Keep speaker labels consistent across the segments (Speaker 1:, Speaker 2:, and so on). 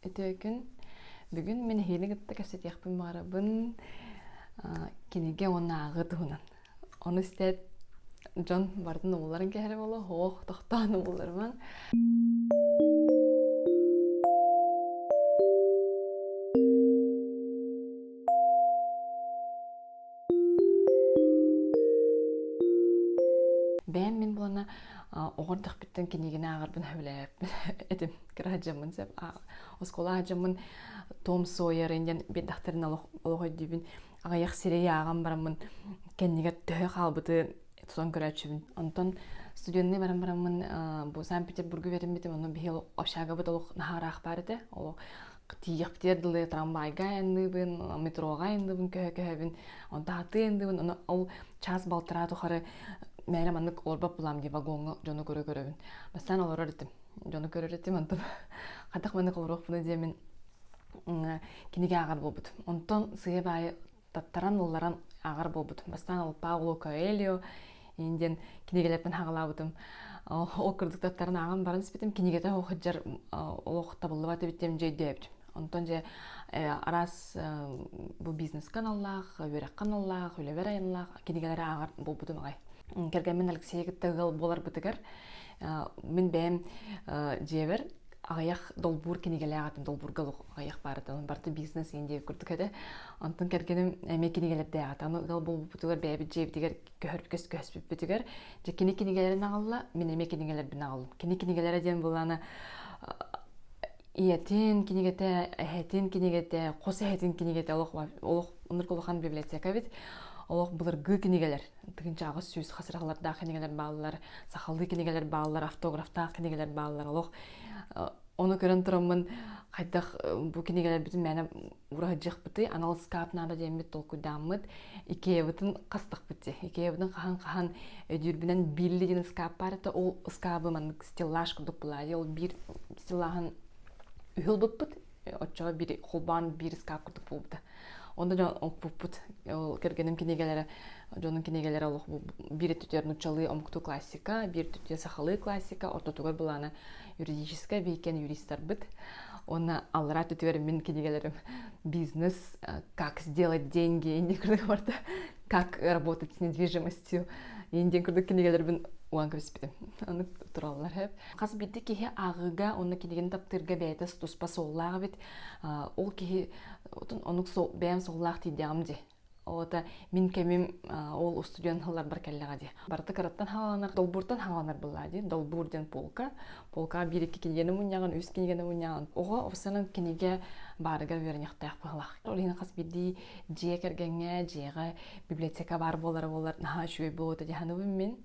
Speaker 1: Өтөөкүн бүгүн мин нэһиилэ кытта кэпсэтиэхпин баҕарабын кинигэ уонааҕы туһунан. Ону истээт дьон бардын уулларан кэһэрэ буолуо, оһох тохтоон уулларыман. Бэйэм мин буолана оҕордохпиттан кинигини ааҕарбын сөбүлээбэппин этим. кыра садьаммын сөп оскуола садьаммын том сойерын диэн биэрдэхтэрин олох өйдүүбүн аҕыйах сири ааҕан бараммын кэннигэр төһө хаалбыты тутан көрөөччүбүн онтон студенный баран бараммын бу санкт петербурга үөрэммитим онон биһи общагабыт олох наһаараах баар этэ олох тиийэхпитигэр дылы трамвайга айанныыбын метроҕа айанныыбын көһө көһөбүн онто атыы айанныыбын ону ол час балтараа тухары мээрэ маннык орбап булам дии вагоҥҥа дьону көрө көрөбүн бастаан олорор этим дьону көрөр этим онтон хатах маннык олоруохпуна диэмин кинигэ ааҕар буолбут онтон сыйа баайы таттаран ылларан ааҕар буолбут бастаан алпауло коэльо ин диэн кинигэлэрпин хагалаабытым ол курдук таттарын ааҕан баран испитим кинигэтэ хоһыджар олох табыллыбат эбиттем дьэ өйдөөбүт онтон же араас бу бизнес каналлаах үөрэх каналлаах үлэбэр айанлаах кинигэлэри ааҕар буолбутум аҕай кэргэммин алексей кытта ыал буоларбытыгар Мин бэйэм дьиэбэр аҕыйах долбуур кинигэлээх этим, долбуурга олох аҕыйах баарытын, барыта бизнес иһин диэки курдук этэ. Онтон кэргэним эмиэ кинигэлэрдээх этэ. Аны ыал буолбуппутугар бэйэбит дьиэбитигэр көһөрбүккэ көспүппүтүгэр дьэ кини кинигэлэрин аҕалла, мин эмиэ кинигэлэрбин аҕаллым. Кини кинигэлэрэ диэн былаана ийэтин кинигэтэ, эһэтин кинигэтэ, хос эһэтин кинигэтэ олох олох оннук улахан библиотека эбит. Олох былыргы кинигэлэр тыгынчаҕы сүүс хас рахалардаах кинигэлэр бааллар сахалыы кинигэлэр бааллар автографтаах кинигэлэр бааллар олох ону көрөн тураммын хайдах бу кинигэлэрбитин мээнэ ураһыдьыахпытый анал скаап наада диэммит толкуйдааммыт икеябытын хастахпыт икеябытын хаһан хаһан өдүүрбүнэн билли диэн скааппаар это ол скаабы маннык стеллаж курдук була ол биир стеллаһын үһүл буппут оччоҕо бир холбоон биир скаф курдук буолбута онно дьон оппуппут ол кэргэним кинигэлэрэ дьонун кинигэлэрэ олох биир өттүтүгэр нуччалыы омуктуу классика биир өттүтүгэр сахалыы классика ортотугар былаана юридическай бииркэн юристарбыт уонна аллараа өттүтүгэр мин кинигэлэрим бизнес как сделать деньги курдук барда как работать с недвижимостью диэн курдук кинигэлэрбин уган кэбиспитим аны тураллар Хас биирдии киһи ааҕыыга уонна кинигини таптыырга бэйэтэ туспа суоллаах эбит. Ол киһи оннук бэйэм суоллаах диэҕим дии. Ота мин кэмим ол устудьуон сылларбар кэллэҕэ дии. Барыта кыраттан хаванар, долбууртан хаванар быллаа дии. Долбуур диэн полка. Полкаҕа биир iki киниганы мунньаҕын, үс киниганы мунньаҕын. Оҕо офсанан кинигэ баарыга үөрэниэхтээх быһылаах. Ол иһин хас биирдии дьиэ кэргэҥҥэ, дьиэҕэ библиотека баар буолара буолар наһаа үчүгэй буолуо дии саныыбын мин.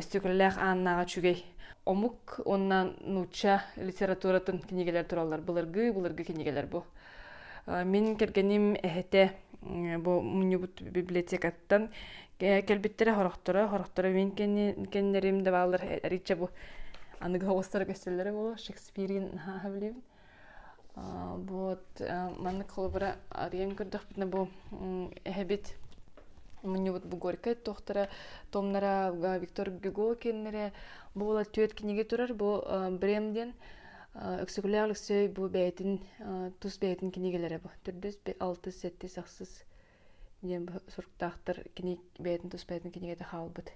Speaker 1: истиэкэлэлээх ааннааҕа үчүгэй омук уонна нуучча литературатын кинигэлэр тураллар былыргы былыргы кинигэлэр бу мин кэргэним эһэтэ бу мунньубут библиотекаттан кэлбиттэрэ хорохторо хорохторо мин кэннэрим да бааллар арыычча бу аныгы оҕустара көстөллөрө буолуо шекспирин наһаа билибин вот маннык холобура арыйан көрдөхпүтүнэ бу эһэбит мунньубут бу горькай туохтара томнара виктор гюго кеннере буола түөрт кинигэ турар бу брем диэн өксөкүлээх өлөксөй бу бэйэтин тус бэйэтин кинигэлэрэ бу төрдүс алтыс сэттис ахсыс диэн суруктаахтар кини бэйэтин тус бэйэтин кинигэтэ хаалбыт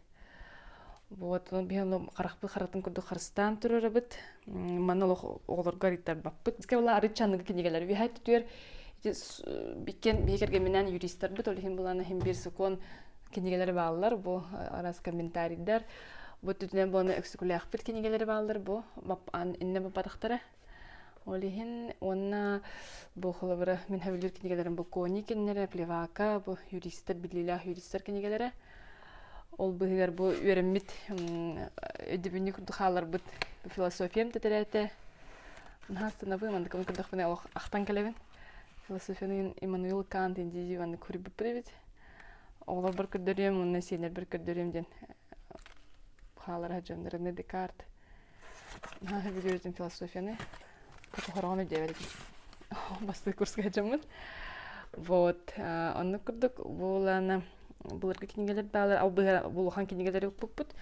Speaker 1: вот биһиги харахпыт харатын курдук харыстаан турарабыт манна олох оҕолорго арыйтарбаппыт кэбила арыычча аныгы кинигэлэр үһэ түтүөр бикен биһи кэргэмминээн юристарбыт ол иһин булан иһин бир сокуон кинигэлери бааллар бу арас комментарийдар бу түтүнэн буону өксүкүлээхпит кинигэлери бааллар бу инне бападахтара Ол иһин уонна бу холобура мин хабилыыр кинигэлэрим бу Кони кинилэрэ, Плевака, бу юристар, биллиилээх юристар кинигэлэрэ. Ол быһыгар бу үөрэммит өйдөбүнньүк курдук хааларбыт философиям тэтирээтэ. Наһаа станабын, мандыкабын көрдөхпүнэ олох ахтан кэлэбин. Философияны Иммануил Кант индии маннык көрбүппүт эбит. Оҕолорбор көрдөрүөм уонна сиэннэрбэр көрдөрүөм диэн хаалара сылдьаллара Декарт. наһаа бүдүрүтүн философияны хотоһороҕун өйдөөбөт этим бастакы курска дьоммун вот оннук курдук буолана былыргы кинигэлэр баалар улахан кинигэлэри укпуппут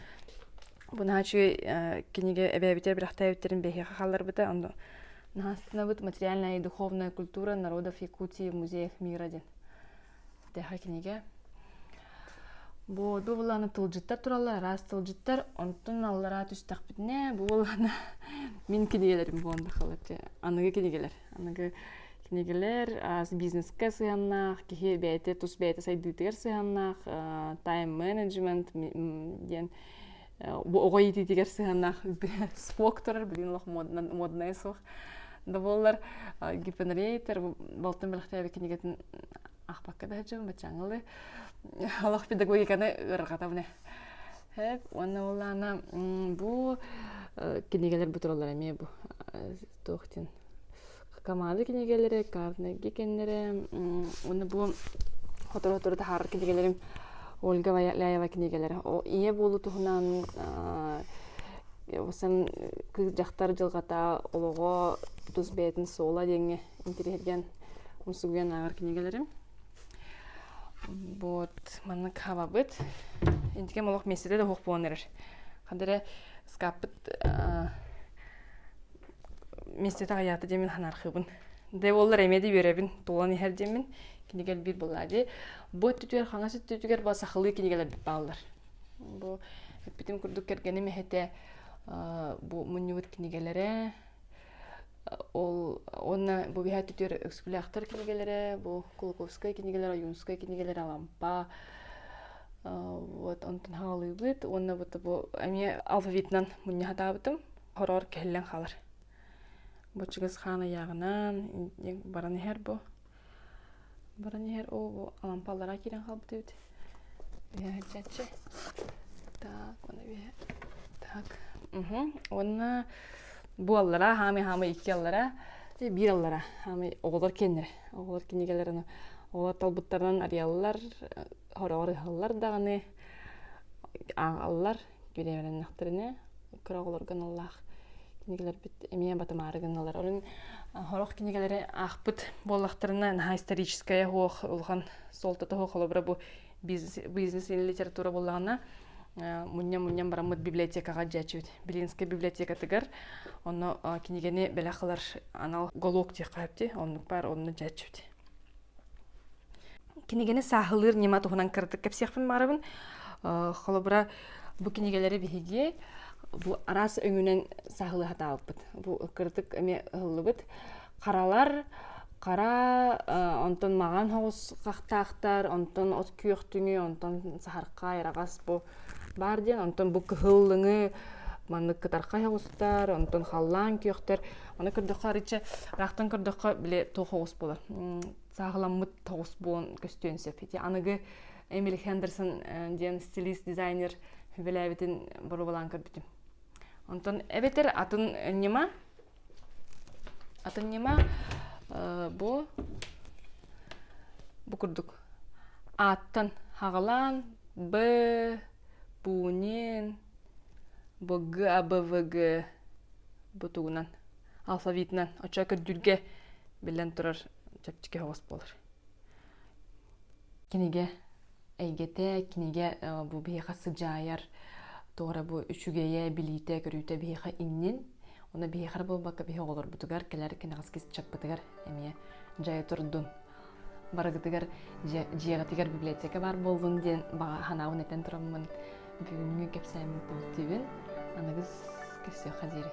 Speaker 1: бунаа үчүгэй кинигэ эбээбитэ бырахтаабиттэрин биһиэхэ хаалларбыта ону наһаа астынабыт материальная и духовная культура народов якутии музеев мира диэн Тэхэ кинигэ Бу былааны тылдьыттар тураллар араас тылдьыттар, онтун аллараа түстэхпитинэ, бу былаана мин кинигэлэрим буолан тахалар аныгы кинигэлэр. Аныгы кинигэлэр ас бизнескэ сыһыаннаах, киһи бэйэтэ тус бэйэтэ сайдыытыгар сыһыаннаах, тайм менеджмент диэн бу оҕо иитиитигэр сыһыаннаах спорт турар билигин олох моднайа суох да буоллар гипернрейтер балтын бэлэхтээбит кинигэтин ахпакка да сылдьыбын баччаҥылы олох педагогиканы ыарырҕатабыны уонна уоллаана бу кинигэлэр бу тураллар эмиэ бу туохтин Камада кинигэлэри, Карнеги кинилэри уонна бу сотору-сотору таһаарар кинигэлэрим Ольга Ляева кинигэлэрэ. О ийэ буолуу туһунан сан кыыс дьахтар дьылҕата олоҕо тус бэйэтин суола диэҥҥэ интириһиргэн умсугуйан ааҕар кинигэлэрим. Вот маннык хабабыт интикем олох месседе да уһук буолан эрэр. Ханна эрэ ыскааппыт мистет аҕыйаата дьэмин ханаархыбын де боллар эмеди үөрэбин туолан иһэр дьэмин кинигэл биир быллаа ди бу өттүтүгэр хаҥас өттүтүгэр ба сахалыы кинигэлэрбит бааллар бу эппитим курдук кэргэним эһэтэ бу мунньубут кинигэлэрэ ол уонна бу биһа өттүтүгэр өксүкүлээхтэр кинигэлэрэ бу кулаковскай кинигэлэр ойуунскай кинигэлэр алампа вот онтун хаалыыбыт уонна бу эмиэ алфавитынан мунньа сатаабытым Хороор кэһиллэн хаалар. Бу чыгыс хаан ыйааҕынан баран иһэр бу. Баран иһэр оо бу алампа аллараа киирэн хаалбыт эбит. Үһээччи. Так, мана үһээ. Так. Уонна бу аллараа хаамый хаамый икки аллараа биир аллараа хаамый оҕолор киэннэрэ оҕолор кинигэлэрин оҕолор талбыттарынан арыйаллар хороҕор ыһаллар даҕаны ааллар бириэмэлэннэхтэринэ кыра оҕолорго наллаах кинигэлэрбит эмиэ батымаары гынналар олун сорох кинигэлэри аахпыт буоллахтарына наһаа историческая хуох улахан суолтата хуох холобура бу бизнес или литература буоллаҕына мунньан-мунньан бараммыт библиотекаҕа дьээччибит Белинскай библиотекатыгар онно кинигэни бэлэх ылар анал голуок диэххэ сөпти оннук баар онно дьээччибит Кинигэни сааһылыыр ньыма туһунан кыратык кэпсиэхпин баарабын. Холобура, бу кинигэлэри биһиги бу араас өҥүнэн сааһылыы сатаабыппыт. Бу кыратык эмиэ ыһыллыбыт. Харалар, хара, онтон маҕан соҕус хахтаахтар, онтон от күөх түҥү, онтон саһархай, араҕас бу баар диэн онтон бу кыһыллыҥы маннык кытарха оҕустар онтон халлаан күөхтэр аны көрдөххө арычча ыраахтан көрдөххө били туох оҕус буолар сааһыламмыт оҕус буолан көстүөн сөп ити аныгы эмили хендерсон диэн стилист дизайнер сүбэлээбитин боруобалаан көрбүтүм онтон эбэтэр атын ньыма Атын ньыма бу бу курдук ааттан хаҕалаан б пунин бг абвг бу тугунан алфавитынан оччо көрдүүргэ биллэн турар чэпчэки хоҕос буолар кинигэ эйгэтэ кинигэ бу биһиэхэ сыдьаайар тоҕо бу үчүгэйэ билиитэ көрүүтэ биһиэхэ иннин уна биһиэхэр буолбакка биһи оҕолорбутугар кэлэр кэнэҕэс кисчаппытыгар эмиэ дьайа турдун барыгытыгар дьиэҕитигэр библиотека баар буоллун диэн баҕа санаабын этэн тураммын бүгүҥҥү кэпсээммит бултиибин аныгыс кэпсиэххэ диэри